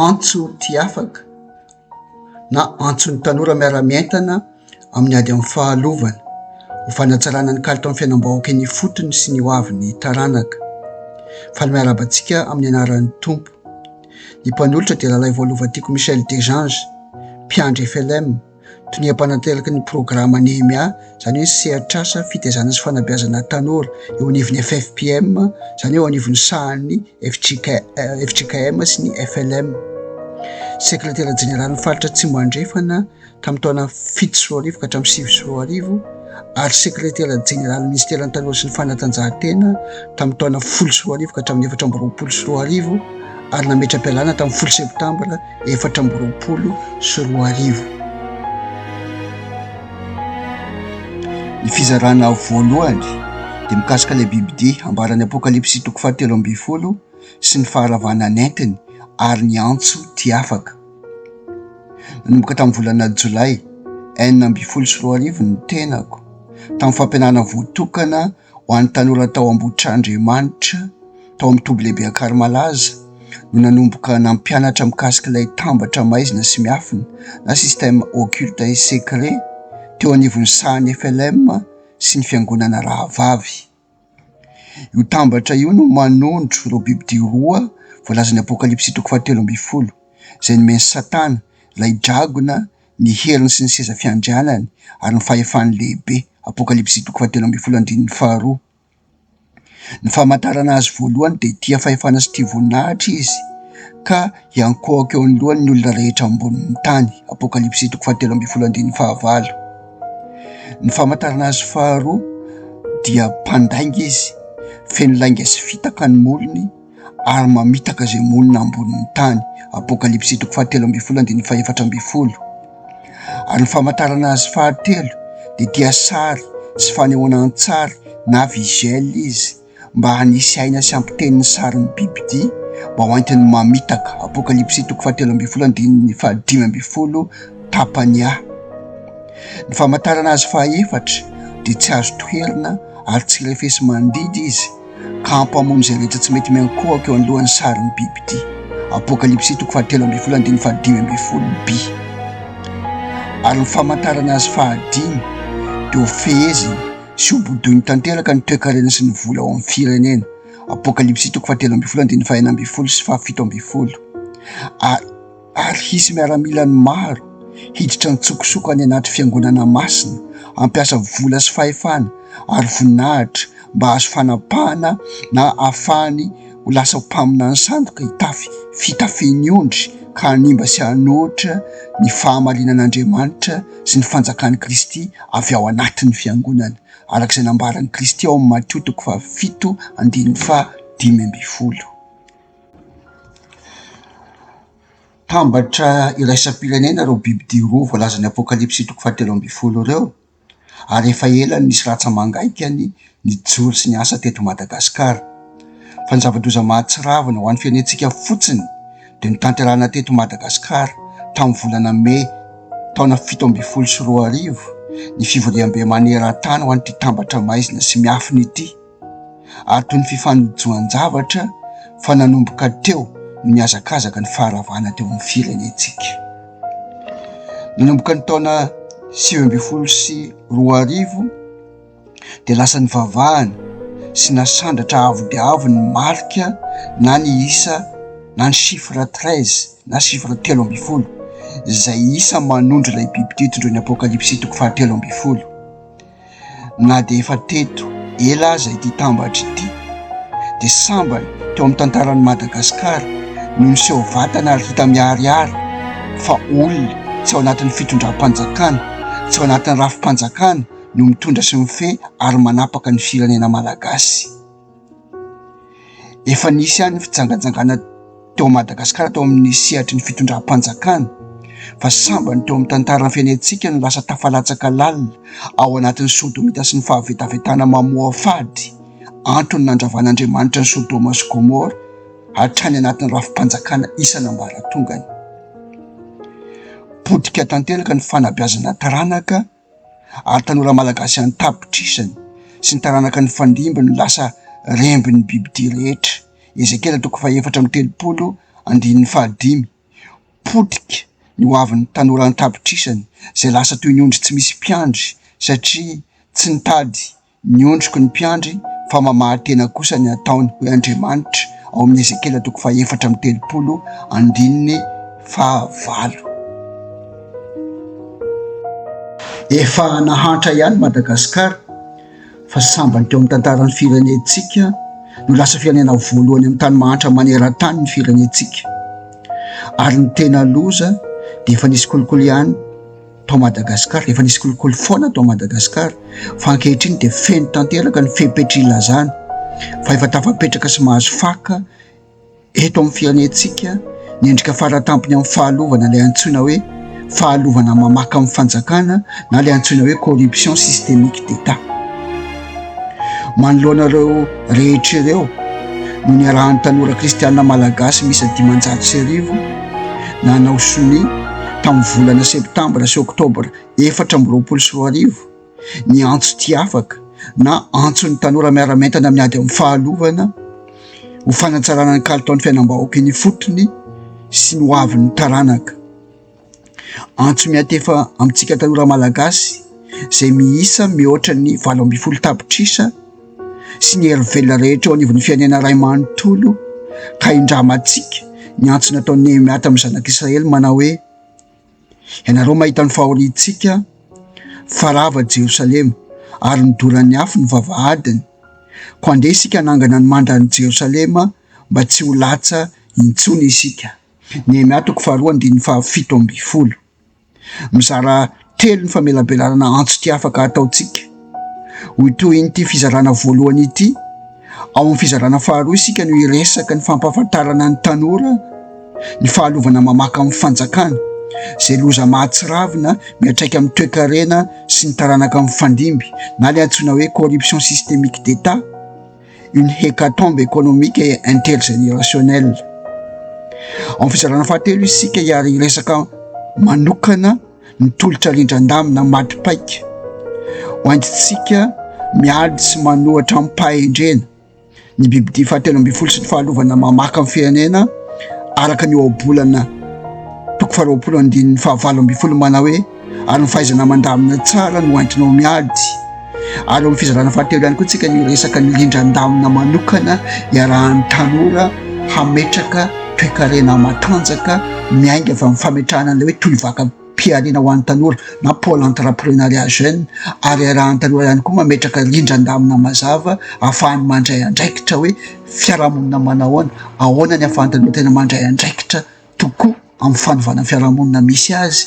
Antso tsy afaka na antson'ny tanora miara-mientana amin'ny ady amin'ny fahalovana ho fanatsarana ny kalitaon'ny fiainam-bahoaka eny ifotony sy ny ho avin'ny taranaka. Faly miarahaba antsika amin'ny anaran'ny Tompo. Ny mpanolotra dia Ralaivoalovatiako Michel Dejeange, mpiandry FLM. Tonia mpanantelaky ny programa NEHEMIA, izany hoe sehatr'asa fitaizana sy fanabeazana tanora, eo anivon'ny FFPM, izany hoe eo anivon'ny sahan'ny fjkm sy ny FLM. Sekretera jeneralin'ny faritra Atsimo Andrefana tamin'ny taona fito sy roa arivo ka hatramin'ny sivy sy roa arivo ary sekretera jeneralin'ny minisiteran'ny tanora sy ny fanatanjahantena tamin'ny taona folo sy roa arivo ka hatramin'ny efatra amby roapolo sy roa arivo ary nametra-pialana tamin'ny folo septambra efatra amby roapolo sy roa arivo. Ny fizarana voalohany dia mikasika ilay bibidia ambaran'ny Apokalypsy toko fahatelo ambin'ny folo sy ny faharavana nentiny ary ny antso tia afaka. Nanomboka tamin'ny volana jolay enina ambin'ny folo sy roa arivo ny tenako tamin'ny fampianarana voatokana. ho an'ny tanora tao Ambohitrandriamanitra tao amin'ny toby lehibe Ankarimalaza no nanomboka nampianatra mikasika ilay tambatra maizina sy miafina na système occulte et secret teo anivon'ny sahan'ny FLM sy ny fiangonana rahavavy. Io tambatra io no manondro ireo bibidia roa voalazan'ny apokalypsy toko fahatelo ambin'ny folo izay nomen'i Satana ilay dragona. ny heriny sy ny seza fiandrianany, ary ny fahefany lehibe. Apokalypsy toko fahatelo ambin'ny folo andininy faharoa. Ny famantarana azy voalohany dia tia fahefana sy tia voninahitra izy ka hiankohoka eo anoloany ny olona rehetra ambonin'ny tany. Apokalypsy toko fahatelo ambin'ny folo andininy fahavalo. Ny famantarana azy faharoa dia mpandainga izy, feno lainga sy fitaka ny molony. ary mamitaka izay monina ambonin'ny tany, Apokalypsy toko fahatelo ambin'ny folo andininy fahefatra ambin'ny folo. Ary ny famantarana azy fahatelo dia dia sary sy fanehoana an-tsary na visuel izy mba hanisy aina sy hampiteny ny sarin'ny bibidia mba ho entin'ny mamitaka, Apokalypsy toko fahatelo ambin'ny folo andininy fahadimy ambin'ny folo, tapany A. Ny famantarana azy fahaefatra dia tsy azo toherina ary tsy refesi-mandidy izy, ka hampamono izay rehetra tsy mety miankohoka eo anoloan'ny sarin'ny biby ity. Apokalypsy toko fahatelo ambin'ny folo andininy fahadimy ambin'ny folo bi. Ary ny famantarana azy fahadimy dia ho fehezina sy ho bodoiny tanteraka ny toekarena sy ny vola ao amin'ny firenena. Apokalypsy toko fahatelo ambin'ny folo andininy fahenina ambin'ny folo sy fahafito ambin'ny folo. Ary ary hisy miaramilany maro hiditra an-tsokosoko any anaty Fiangonana masina, hampiasa vola sy fahefana ary voninahitra mba hahazo fanapahana na hahafahany ho lasa mpaminany sandoka hitafy fitafin'ny ondry ka hanimba sy hanohitra ny fahamarianan'Andriamanitra sy ny fanjakan'i Kristy avy ao anatin'ny Fiangonana, araka izay nambaran'i Kristy ao amin'ny Matio toko fahafito andininy fahadimy ambin'ny folo. Tambatra iraisam-pirenena ireo bibidia roa voalazan'ny apokalypsy toko fahatelo ambin'ny folo ireo ary efa ela no nisy rantsa-mangaikany nijoro sy niasa teto Madagasikara. Fa ny zava-doza mahatsiravina ho an'ny firenentsika fotsiny dia notanterahina teto Madagasikara tamin'ny volana mey taona fito ambin'ny folo sy roa arivo ny fivoriambe maneran-tany ho an'ity Tambatra maizina sy miafina ity. ary toy ny fifanojoan-javatra fa nanomboka teo ny mihazakazaka ny faharavana teo amin'ny firenentsika. Nanomboka ny taona sivy ambin'ny folo sy roa arivo dia lasa nivavahana sy nasandratra avo dia avo ny marika na ny isa na ny chiffre treize na chiffre telo ambin'ny folo izay isa manondro ilay biby tia tondroin'ny apokalypsy toko fahatelo ambin'ny folo. na dia efa teto ela aza ity tambatra ity dia sambany teo amin'ny tantaran'i Madagasikara no niseho vatana ary hita miharihary fa olona tsy ao anatin'ny fitondram-panjakana, tsy ao anatin'ny rafi-panjakana no mitondra sy mifehy ary manapaka ny firenena malagasy. Efa nisy ihany ny fijangajangana teo Madagasikara tao amin'ny sehatry ny fitondram-panjakana fa sambany teo amin'ny tantaran'ny fiainantsika no lasa tafalatsaka lalina ao anatin'ny sodomita sy ny fahavetavetana mamoafady antony nandravan'Andriamanitra ny sodoma sy gomora hatrany anatin'ny rafi-panjakana isan'ambaratongany. Potika tanteraka ny fanabeazana taranaka. ary tanora malagasy an-tapitrisany sy ny taranaka nifandimby no lasa rembin'ny bibidia rehetra, Ezekiela toko fahefatra amby telopolo andininy fahadimy. Potika ny ho avin'ny tanora an-tapitrisany izay lasa toy ny ondry tsy misy mpiandry satria tsy nitady. Ny ondriko ny mpiandry, fa mamarin-tena kosa ny ataony, hoy Andriamanitra, ao amin'ny Ezekiela toko fahefatra amby telopolo andininy fahavalo. Efa nahantra ihany Madagasikara, fa sambany teo amin'ny tantaran'ny firenentsika no lasa firenena voalohany amin'ny tany mahantra maneran-tany ny firenentsika, ary ny tena loza dia efa nisy kolikoly ihany, tao Madagasikara, efa nisy kolikoly foana tao Madagasikara, fa ankehitriny dia feno tanteraka ny fepetr' ilazana fa efa tafapetraka sy mahazo faka eto amin'ny fianentsika ny endrika faratampony amin'ny fahalovana, ilay antsoina hoe fahalovana mamaka amin'ny fanjakana na ilay antsoina hoe corruption systemique d'Etat. Manoloana ireo rehetra ireo no niarahan'ny tanora kristiana malagasy miisa dimanjato sy arivo nanao sonia tamin'ny volana septambra sy oktobra efatra amby roapolo sy roa arivo ny antso tia afaka na antson'ny tanora miara-mientana amin'ny ady amin'ny fahalovana ho fanatsarana ny kalitaon'ny fiainam-bahoaka eny ifotony sy ny hoavin'ny taranaka. Antso miantefa amintsika tanora Malagasy izay miisa mihoatra ny valo ambin'ny folo tapitrisa sy ny hery velona rehetra eo anivon'ny firenena iray manontolo ka hindramantsika ny antso nataon'i Nehemiah tamin'ny zanak'i Israely manao hoe ianareo mahita ny fahoriantsika fa rava Jerosalema ary nodoran'ny afo ny vavahadiny koa andeha isika hanangana ny mandran'i Jerosalema mba tsy ho latsa intsony isika. Nehemia toko faharoa andininy fahafito ambin'ny folo. Mizara telo ny famelabelarana antso tsy afaka ataontsika. Ho tohin'ity fizarana voalohany ity, ao amin'ny fizarana faharoa isika no hiresaka ny fampahafantarana ny tanora ny fahalovana mamaka amin'ny fanjakana, izay loza mahatsiravina miatraika amin'ny toekarena sy ny taranaka mifandimby na ilay antsoina hoe corruption systemique d'Etat. une hecatombe économique et intergénérationnelle. Ao amin'ny fizarana fahatelo isika hiary hiresaka manokana ny tolotra rindran-damina maty paika ho antsika miady sy manohatra amim-pahendrena ny bibidia fahatelo ambin'ny folo sy ny fahalovana mamaka amin'ny firenena araka ny ohabolana toko faharoapolo andininy fahavalo ambin'ny folo manao hoe ary ny fahaizana mandamina tsara no entinao miady ary amin'ny fizarana fahatelo ihany koa tsika ny resaka ny rindran-damina manokana iarahan'ny tanora hametraka toekarena matanjaka miainga fa ny fametrahana an'ilay hoe toy vaka mpiarina ho an'ny tanora na pole entreprenariat jeune ary iarahan'ny tanora ihany koa mametraka rindran-damina mazava ahafahany mandray andraikitra hoe fiarahamonina manahoana ahoana ny afahan'ny tanora tena mandray andraikitra tokoa amin'ny fanovana ny fiarahamonina misy azy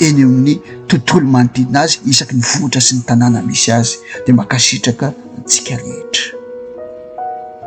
eny amin'ny tontolo manodidina azy isaky ny vohitra sy ny tanàna misy azy dia mankasitraka antsika rehetra.